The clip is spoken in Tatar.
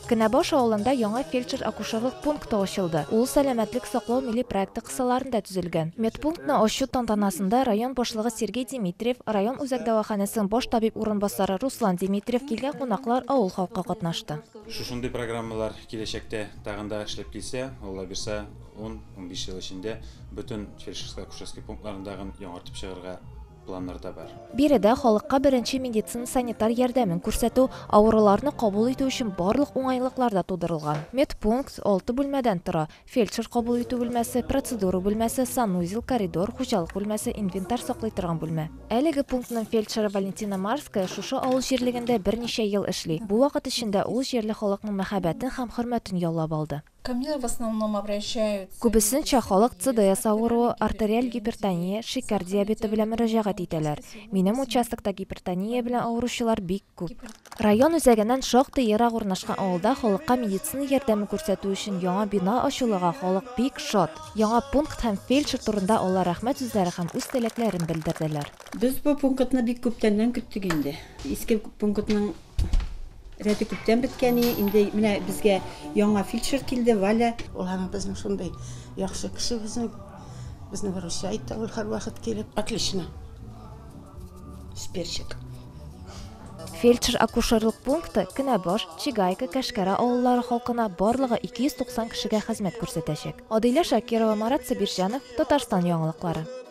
Кенәбаш авылында яңа фельдшер-акушерлык пункты ачылды. Ул сәламәтлек саклау милли проекты кысаларында төзелгән. Медпунктны ачу тантанасында район башлыгы Сергей Димитриев, район үзәк дәваханәсенең баш табиб урынбасары Руслан Димитриев, килгән кунаклар, авыл халкы катнашты. Шушындый программалар киләчәктә тагын да эшләп килсә, аллабирса, ун-унбиш ел эчендә бөтен фельдшерско-акушерский пунктларын тагын яңартып чыгарга планнар да бар. Биредә халыкка беренче медицина-санитар ярдәмен күрсәтү, авыруларны кабул итү өчен барлык уңайлыклар да тудырылган. Медпункт алты бүлмәдән тора, фельдшер кабул итү бүлмәсе, процедура бүлмәсе, санузел, коридор, хуҗалык бүлмәсе, инвентарь саклый торган бүлмә. Әлеге пунктның фельдшеры Валентина Марская шушы авыл җирлегендә берничә ел эшли. Бу вакыт эчендә ул җирле халыкның мәхәббәтен һәм хөрмәтен яулап алды. Күбесенчә халык ЦДС авыруы, артериаль гипертония, шикәр диабеты белән мөрәҗәгать итәләр. Минем участокта гипертония белән авыручылар бик күп. Район үзәгеннән шактый ерак урнашкан авылда халыкка медицина ярдәме күрсәтү өчен яңа бина ачылуга халык бик шат. Яңа пункт һәм фельдшер турында алар рәхмәт сүзләре һәм үз теләкләрен белдерделәр. Без бу пунктны бик күптәннән көттек инде. Иске пунктның Рәте күптән беткән иде. Инде менә безгә яңа фельдшер килде, Валя. Ул һәм безнең шундый яхшы кеше безнең. Безне выручай итте ул һәрвакыт килеп. Отлично. Сперчик. Фельдшер-акушерлык пункты Кенәбаш, Чегайка, Кәшкәрә авыллары халкына барлыгы 290 кешегә хезмәт күрсәтәчәк. Адилә Шакирова, Марат Сабирҗанов, Татарстан яңалыклары.